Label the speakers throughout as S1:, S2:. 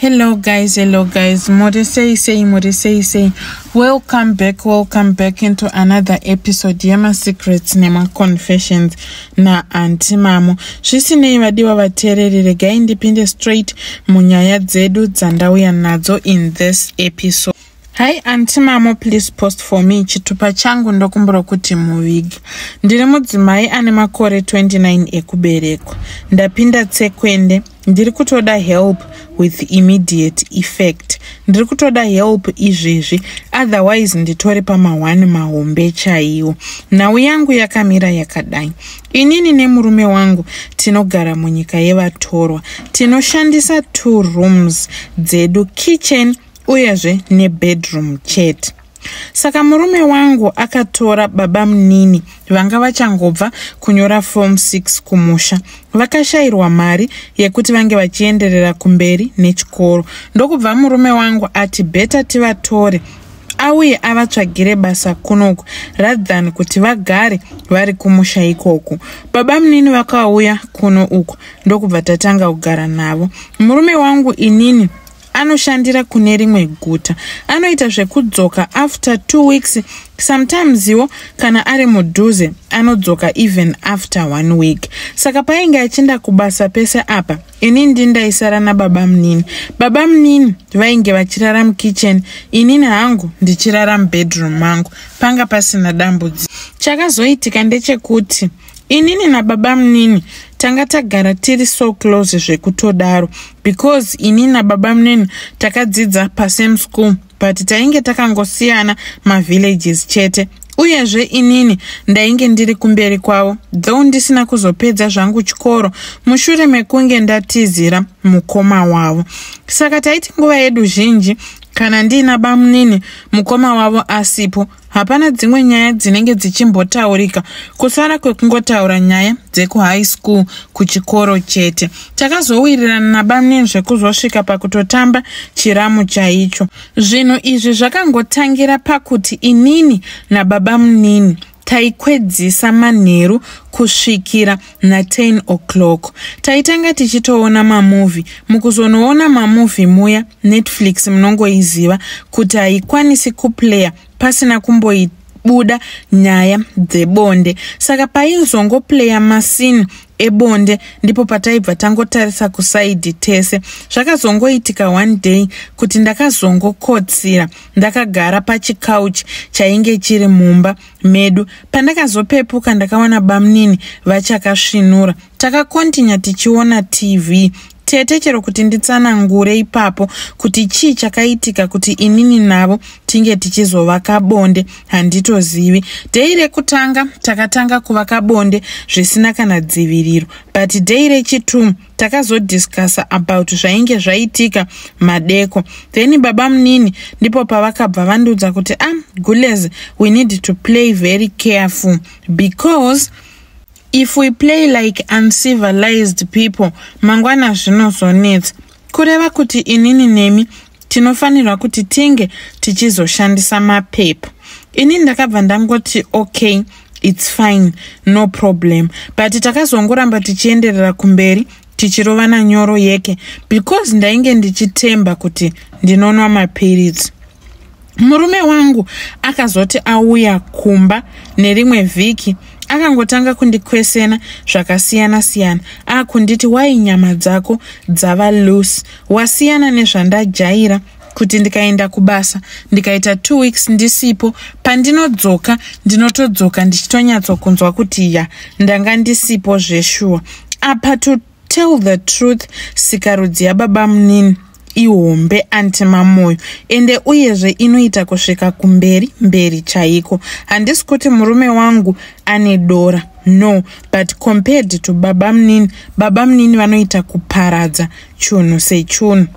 S1: hello guys hello guys muri sei sei muri sei sei welcome back welcome back into another episode yemasecrets nemaconfessions naanti mamo zvisinei vadiwa vateereri regai ndipinde straight munyaya dzedu dzandauya nadzo in this episode Hi anti mamo please post for me chitupa changu ndokumbura kuti muvige. Ndiri mudzimai ane makore 29 ekuberekwa. Ndapinda tsekwende. Ndiri kutoda help with immediate effect. Ndiri kutoda help izvezvi otherwise nditori pamahwani mahombe chaiwo. Nhau yangu yakamira yakadai. Inini nemurume wangu tinogara munyika yevatorwa. Tinoshandisa two rooms dzedu kitchen uyezve nebedroom chete saka murume wangu akatora baba munini vanga vachangobva kunyora form 6 kumusha vakashayirwa mari yekuti vange vachienderera kumberi nechikoro ndokubva murume wangu ati beta tivatore auye avatsvagire basa kunoku rather than kuti vagare vari kumusha ikoku baba munini vakauya kuno uku ndokubva tatanga kugara navo murume wangu inini anoshandira kune rimwe guta anoita zvekudzoka after two weeks sometimes iwo kana ari mudhuze anodzoka even after one week saka painge achinda kubasa pese apa ini ndindaisara nababa munini baba munini vainge vachirara mukitchen inini hangu ndichirara mubedroom mangu panga pasina dambudziko chakazoitika ndechekuti inini nababamunini tanga tagara tiri so close zvekutodaro because ini nababamunini takadzidza pasame school but tainge takangosiyana mavillages chete uyezve inini ndainge ndiri kumberi kwavo though ndisina kuzopedza zvangu chikoro mushure mekunge ndatizira mukoma wavo saka taiti nguva yedu zhinji kana ndiina bamunini mukoma wavo asipo hapana dzimwe nyaya dzinenge dzichimbotaurika kusara kwekungotaura nyaya dzekuhigh school kuchikoro chete takazowirirana nabamin zvekuzosvika pakutotamba chiramu chaicho zvinhu izvi zvakangotangira pakuti inini nababamunini taikwedzisa manheru kusvikira na 10 o'clock taitanga tichitoona mamovhi mukuzonoona mamovhi muya netflix munongoiziva kuti haikwanisi kuplayer pasina kumboita buda nyaya dzebonde saka paizongopleya masini ebonde ndipo pataibva tangotarisa kusaidhi tese zvakazongoitika one day kuti ndakazongokotsira ndakagara pachicouch chainge chiri mumba medu pandakazopepuka ndakawana bamnini vachakasvinura takakontinya tichiona tv tete chero kuti nditsanangure ipapo kuti chii chakaitika kuti inini navo tinge tichizovaka bonde handitozivi dei rekutanga takatanga kuvaka bonde zvisina kana dziviriro but dei rechitumu takazodiscussa about zvainge zvaitika madeko then baba munini ndipo pavakabva vandiudza kuti a ah, gules we need to play very careful because if we play like uncivilized people mangwana zvinozonetsa kureva kuti inini nemi tinofanirwa kuti tinge tichizoshandisa mapepa ini ndakabva ndangoti okay its fine no problem but takazongoramba tichienderera kumberi tichirovana nyoro yeke because ndainge ndichitemba kuti ndinonwa mapiritsi murume wangu akazoti auya kumba nerimwe vhiki akangotanga kundikwesena zvakasiyana-siyana akunditi wai nyama dzako dzava loose wasiyana nezvandajaira kuti ndikaenda kubasa ndikaita two weeks ndisipo pandinodzoka ndinotodzoka ndichitonyatsokunzwa kuti ya ndanga ndisipo zveshuwa apa to tell the truth sikarudzi yababa munini ihombe antimamoyo ende uyezve inoita kusvika kumberi mberi chaiko handisi kuti murume wangu ane dora no but compared to baba munini baba munini vanoita kuparadza chunhu sechunhu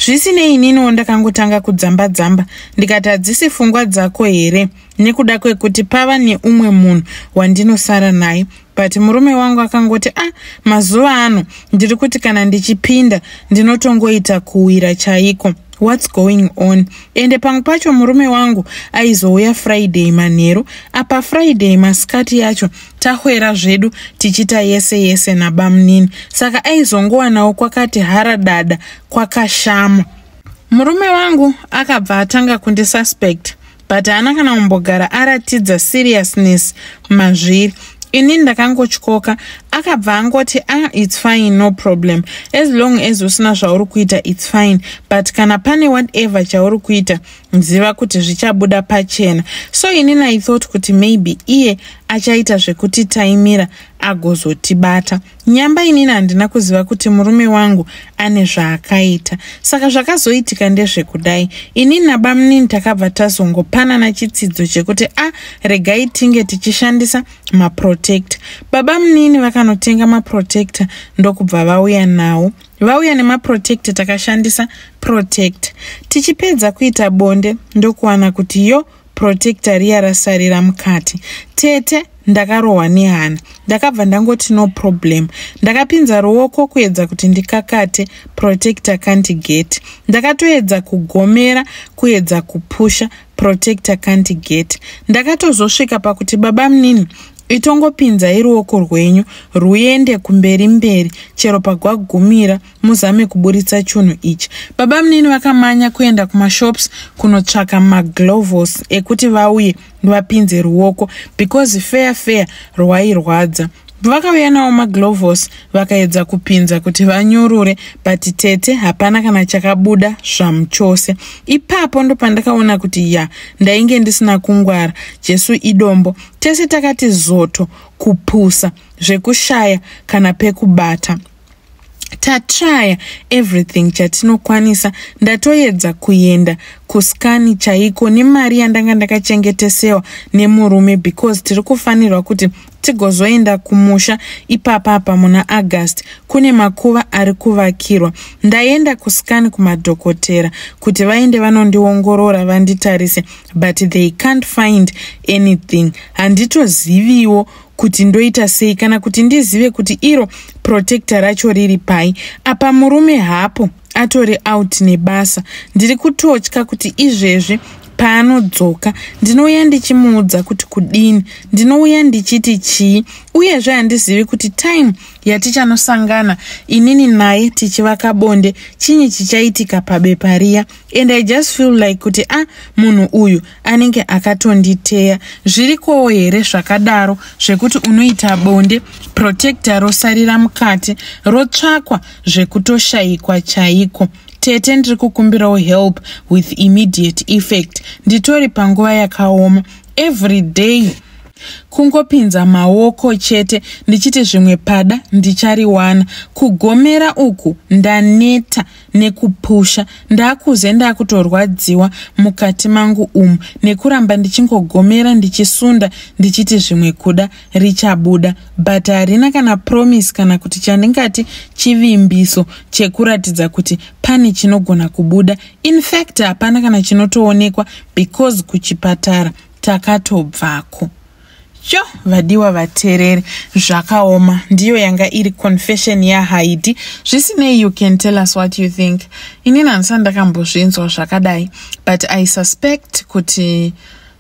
S1: zvisinei ininiwo ndakangotanga kudzamba dzamba ndikati hadzisi fungwa dzako here nekuda kwekuti pava neumwe munhu wandinosara naye but murume wangu akangoti ah mazuva ano ndiri kuti kana ndichipinda ndinotongoita kuwira chaiko whats going on ende pamwe pacho murume wangu aizouya friday manheru apa friday masikati yacho tahwera zvedu tichita yese yese nabamunini saka aizongowanawo kwakati hara dada kwakashama murume wangu akabva atanga kundisuspect but haana kana kumbogara aratidza seriousness mazviri ini ndakangotyoka akabva angoti a ah, its fine no problem as long as usina zvauri kuita its fine but kana pane whatever chauri kuita ziva kuti zvichabuda pachena so ini naithought kuti maybe iye achaita zvekutitaimira agozotibata Nyamba inini handina kuziva kuti murume wangu ane zvaakaita. Saka zvakazoitika ndezvekudai. Inini nabamunini takabva tazongopanana chitsidzo chekuti a ah, regai tinge tichishandisa maprotector. Babamunini vakanotenga maprotector ndokubva vauya nawo. Vauya nemaprotector takashandisa protector. Tichipedza kuita bonde ndokuwana kuti yo protector riya rasarira mukati tete ndakarohwa nehana ndakabva ndangoti no problem ndakapinza ruoko kuedza kuti ndikakate protector canty gate ndakatoedza kugomera kuedza kupusha protector canty gate ndakatozosvika pakuti baba munini itongopinzai ruoko rwenyu rwuende kumberi mberi chero pagwagumira muzame kuburitsa chunhu ichi baba munini vakamanya kuenda kumashops kunotsvaka maglovos ekuti vauye ndivapinze ruoko because fair fair rwairwadza vakauya nawo maglovos vakaedza kupinza kuti vanyurure but tete hapana kana chakabuda zvamu chose ipapo ndopandakaona kuti ya ndainge ndisina kungwara jesu idombo tese takati zoto kupusa zvekushaya kana pekubata tatraya everything chatinokwanisa ndatoedza kuenda kuskani chaiko nemari yandanga ndakachengetesewa nemurume because tiri kufanirwa kuti tigozoenda kumusha ipapa apa muna august kune makuva ari kuvakirwa ndaenda kuskani kumadhokotera kuti vaende vanondiongorora vanditarise but they can't find anything handitoziviwo kuti ndoita sei kana kuti ndizive kuti iro protector racho riri pai apa murume hapo atori out nebasa ndiri kutotya kuti izvezvi paanodzoka ndinouya ndichimuudza kuti kudini ndinouya ndichiti chii uyezve handizivi kuti time yatichanosangana inini naye tichivaka bonde chinyi chichaitika pabepa riya and i just feel like kuti a ah, munhu uyu anenge akatonditeya zvirikowo here zvakadaro zvekuti unoita bonde protecta rosarira mukati rotsvakwa zvekutoshayikwa chaiko tete ndiri kukumbirawo help with immediate effect nditori panguva yakaoma every day kungopinza maoko chete ndichiti zvimwe pada ndichariwana kugomera uku ndaneta nekupusha ndakuze ndakutorwadziwa mukati mangu umu nekuramba ndichingogomera ndichisunda ndichiti zvimwe kuda richabuda but harina kana promise kana kuti chandingati chivimbiso chekuratidza kuti pane chinogona kubuda infact hapana kana chinotoonekwa because kuchipatara takatobvako Sho vadiwa vatereri zvakaoma ndiyo yanga iri confession yahaidi zvisinei you can tell us what you think inini handisati ndakambozvinzwa zvakadai but i suspect kuti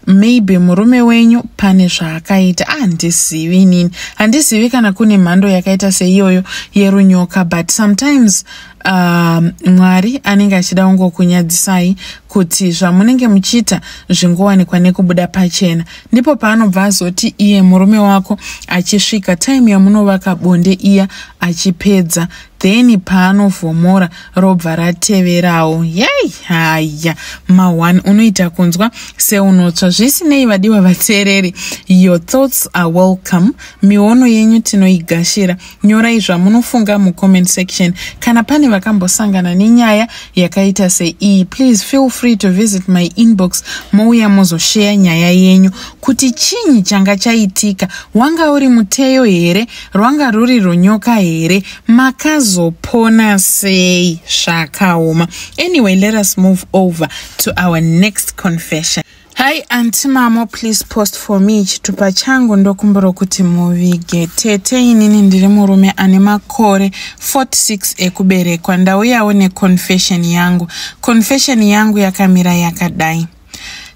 S1: maybe murume wenyu pane zvaakaita ah, handizivi ah, inini handizivi kana kune mhando yakaita seiyoyo yerunyoka but sometimes um, mwari anenge achida kungokunyadzisai kuti zvamunenge muchiita zvingowanikwa nekubuda pachena ndipo paanobva azoti iye murume wako achisvika taimu yamunovaka bonde iya achipedza then paanovhomora robva rateverawo yei haya ma1 unoita kunzwa seunotsva zvisinei vadiwa vateereri your thoughts are welcome miono yenyu tinoigashira Nyorai zvamunofunga mucomment section. Kana pane vakambosangana nenyaya yakaita seiyi, please feel free to visit my inbox mouya mozosheya nyaya yenyu kuti chinyi changa chaitika. Wanga uri muteyo here? Rwanga ruri rwonyoka here? Makazopona sei? Zvakaoma. Anyway, let us move over to our next confession. Hi anti mamo please post for me chitupa changu ndokumbira kuti muvige tete inini ndiri murume ane makore 46 ekuberekwa ndauyawo neconfession yangu confession yangu yakamira yakadai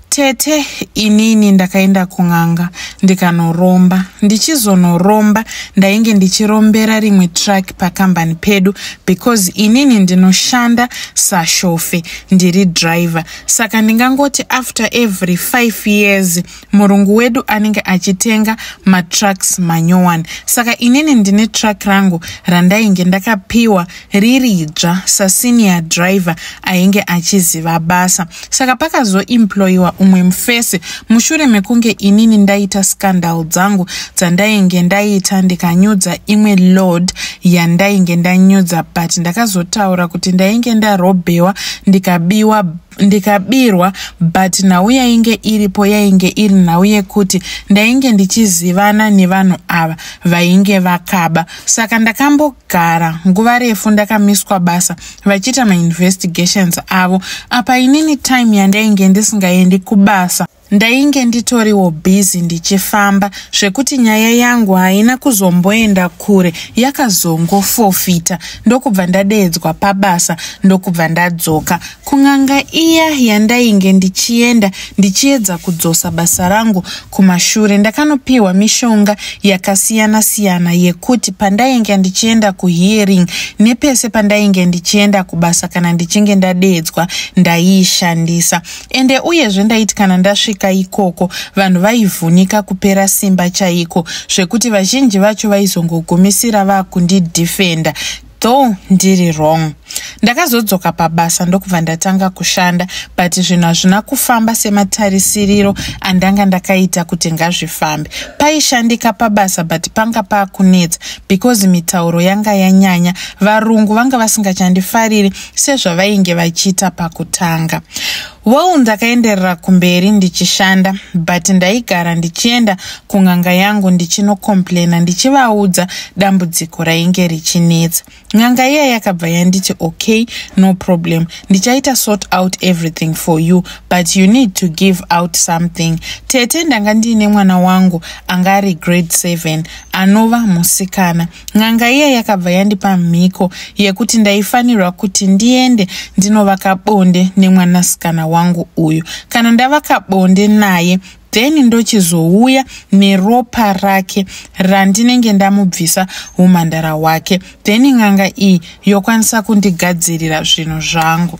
S1: tete inini ndakaenda kun'anga ndikanoromba ndichizonoromba ndainge ndichirombera rimwe truck pakambani pedu because inini ndinoshanda sashofe ndiri driver saka ndingangoti after every five years murungu wedu anenge achitenga matrucks manyowani saka inini ndine truck rangu randainge ndakapiwa riri dzva sasenior driver ainge achiziva basa saka pakazoemployiwa umwe mufesi mushure mekunge inini ndaita scandal dzangu dzandainge ndaita ndikanyudza imwe lord yandainge ndanyudza but ndakazotaura kuti ndainge ndarobhewa ndikabiwa ndikabirwa but nhau yainge iripo yainge iri nhau yekuti ndainge ndichizivana nevanhu ava vainge vakaba saka ndakambo gara nguva refu ndakamiswa basa vachiita mainvestigations avo apa inini time yandainge ndisingaendi kubasa ndainge nditoriwo busy ndichifamba zvekuti nyaya yangu haina kuzomboenda kure yakazongofofita ndokubva ndadeedzwa pabasa ndokubva ndadzoka kun'anga iya yandainge ndichienda ndichiedza kudzosa basa rangu kumashure ndakanopiwa mishonga yakasiyana siyana yekuti pandainge ndichienda kuhearing nepese pandainge ndichienda kubasa kana ndichinge ndadeedzwa ndaiishandisa ende uyezve ndaiti kana ndasvika ikoko vanhu vaivhunika kupera simba chaiko zvekuti vazhinji vacho vaizongogumisira vakundidefenda though ndiri wrong ndakazodzoka pabasa ndokubva ndatanga kushanda but zvinhu hazvina kufamba sematarisiriro andanga ndakaita kuti ngazvifambe paishandika pabasa but panga paakunetsa because mitauro yanga yanyanya varungu vanga vasingachandifariri sezvavainge vachiita pakutanga Well, ndakaenderera kumberi ndichishanda but ndaigara ndichienda kun'anga yangu ndichinokomplaina ndichivaudza dambudziko rainge richinetsa. N'anga iya yakabva yanditi okay, no problem, ndichaita sort out everything for you but you need to give out something. Tete ndanga ndiine mwana wangu anga ari grade 7 anova musikana. n'anga iya yakabva yandipa mhiko yekuti ndaifanirwa kuti ndiende ndinovaka bonde nemwanasikana wangu uyu kana ndavaka bonde naye then ndochizouya neropa rake randinenge ndamubvisa umhandara hwake then n'anga iyi yokwanisa kundigadzirira zvinhu zvangu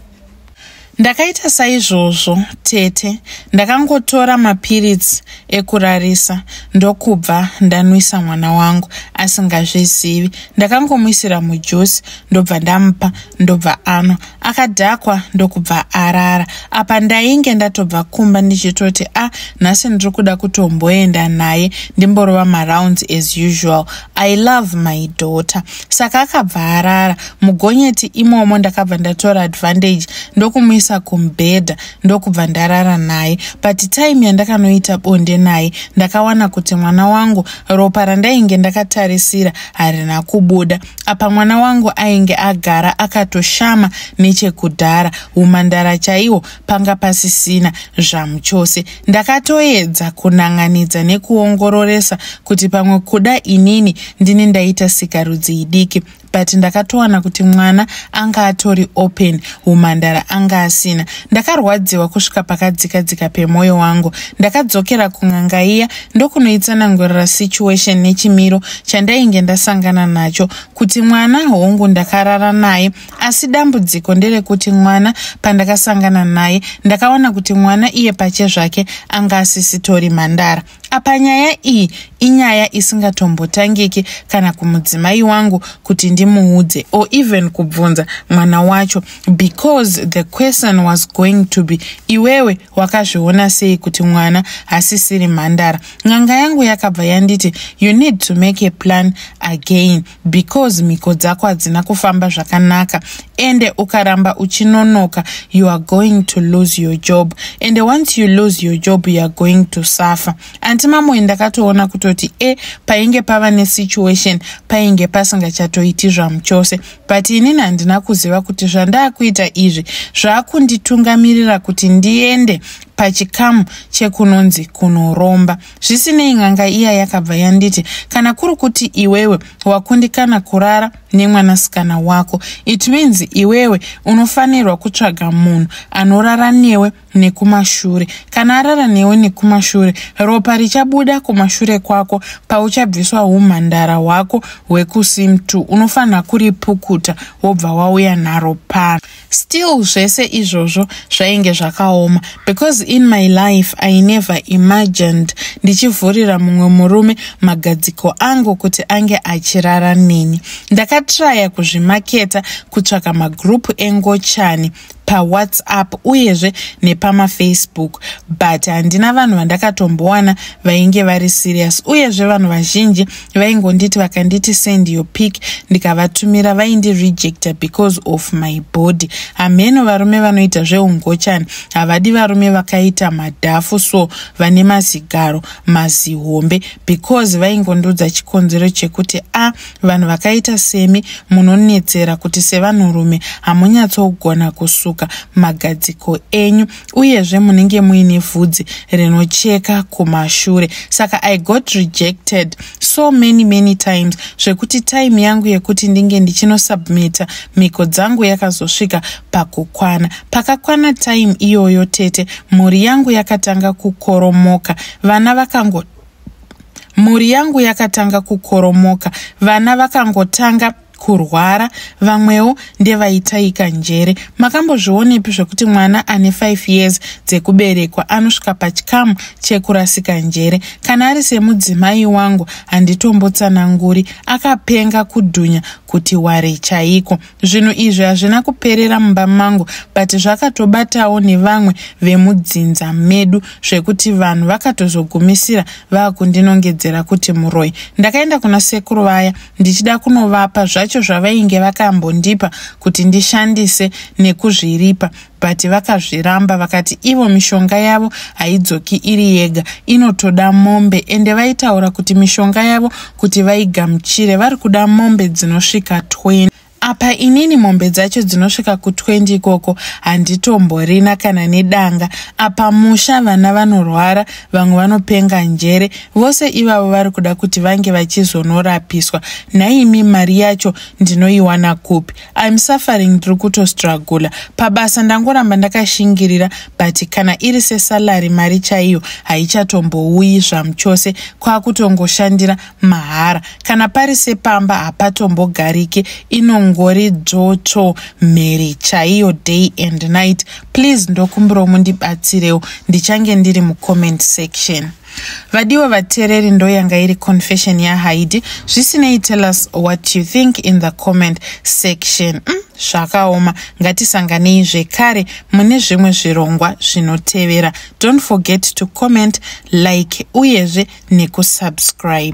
S1: ndakaita saizvozvo tete ndakangotora mapiritsi ekurarisa ndokubva ndanwisa mwana wangu asingazvizivi ndakangomuisira mujusi ndobva ndamupa ndobva anwa akadhakwa ndokubva arara apa ndainge ndatobva kumba ndichitoti a ah, nhasi ndiri kuda kutomboenda naye ndimborova marounds as usual i love my daughter saka akabva arara mugonyeti imomo ndakabva ndatora advantage ndokumuisa kumbhedha ndokubva ndarara naye but time yandakanoita bonde naye ndakawana kuti mwana wangu ropa randainge ndakatarisira harina kubuda apa mwana wangu ainge agara akatoshama nechekudhara umandara chaiwo panga pasisina zvamuchose ndakatoedza kunan'anidza nekuongororesa kuti pamwe kuda inini ndini ndaita sikarudzi idiki but ndakatowana kuti mwana anga atori open umhandara anga asina ndakarwadziwa kusvika pakadzika dzika pemwoyo wangu ndakadzokera kun'anga iya ndokunoitsanangurira situation nechimiro chandainge ndasangana nacho kuti mwana hongu ndakarara naye asi dambudziko nderekuti mwana pandakasangana naye ndakaona kuti mwana iye pache zvake anga asisitori mhandara apa nyaya iyi inyaya isingatombotangiki kana kumudzimai wangu kuti ndimuudze or even kubvunza mwana wacho because the question was going to be iwewe wakazviona sei kuti mwana hasisiri mhandara n'anga yangu yakabva yanditi you need to make a plan again because mhiko dzako hadzina kufamba zvakanaka ende ukaramba uchinonoka you are going to lose your job ende once you lose your job you are going to suffer anti mamoyi ndakatoona kutoti e eh, painge pava nesituation painge pasingachatoiti zvamuchose but inini handina kuziva kuti zvandaakuita izvi zvaakunditungamirira kuti ndiende pachikamu chekunonzi kunoromba zvisinei n'anga iya yakabva yanditi kana kuri kuti iwewe wakundikana kurara nemwanasikana wako it means iwewe unofanirwa kutsvaga munhu anorara newe nekumashure kana arara newe nekumashure ropa richabuda kumashure kwako pauchabviswa umhandara hwako hwekusimtu unofanira kuripukuta wobva wauya naro pano still zvese izvozvo zvainge zvakaoma because in my life i never imagined ndichivhurira mumwe murume magadziko angu kuti ange achirara neni ndakatraya kuzvimaketa kutsvaka magroup engochani pawhatsapp uyezve nepamafacebook but handina vanhu vandakatombowana vainge vari serious uyezve vanhu vazhinji vaingonditi vakanditi send your pic ndikavatumira vaindirejecta because of my body hameno varume vanoita zveungochani havadi varume vakaita madhafu so vane mazigaro mazihombe because vaingondiudza chikonzero chekuti a vanhu vakaita semi munonetsera kuti sevanhurume hamunyatsogona kusuka magadziko enyu uyezve munenge muine vhudzi rinocheka kumashure saka i got rejected so many many times zvekuti time yangu yekuti ndinge ndichinosubmita mhiko dzangu yakazosvika pakukwana pakakwana time iyoyo tete mhuri yangu yakatanga kukoromoka vana vakango mhuri yangu yakatanga kukoromoka vana vakangotanga kurwara vamwewo ndevaitaika njere makambozvionepi zvekuti mwana ane 5 years dzekuberekwa anosvika pachikamu chekurasika njere kana ari semudzimai wangu handitombotsananguri akapenga kudhunya kuti ware chaiko zvinhu izvi hazvina kuperera mumba mangu but zvakatobatawo nevamwe vemudzinza medu zvekuti vanhu vakatozogumisira vakundinongedzera kuti muroi ndakaenda kuna sekuru vaya ndichida kunovapa zvacho zvavainge vakambondipa kuti ndishandise nekuzviripa but vakazviramba vakati ivo mishonga yavo haidzoki iri yega inotoda mombe ende vaitaura kuti mishonga yavo kuti vaigamuchire vari kuda mombe dzinosvika 20 apa inini mombe dzacho dzinosvika ku20 ikoko handitomborina kana nedanga apa musha vana vanorwara vamwe vanopenga njere vose ivavo vari kuda kuti vange vachizonorapiswa nhaimi mari yacho ndinoiwana kupi im suffering ndiri kutostragula pabasa ndangoramba ndakashingirira but kana iri sesalary mari chaiyo haichatombouyi zvamuchose kwakutongoshandira mahara kana pari sepamba hapatombogarike inongori dzvotsvo mheri chaiyo day and night please ndokumbirawo mundibatsirewo ndichange ndiri mucomment section vadiwa vateereri ndoyanga iri confession yahaidi zvisinei tell us what you think in the comment section mm, zvakaoma mm, ngatisanganei zvekare mune zvimwe zvirongwa zvinotevera don't forget to comment like uyezve nekusubscribe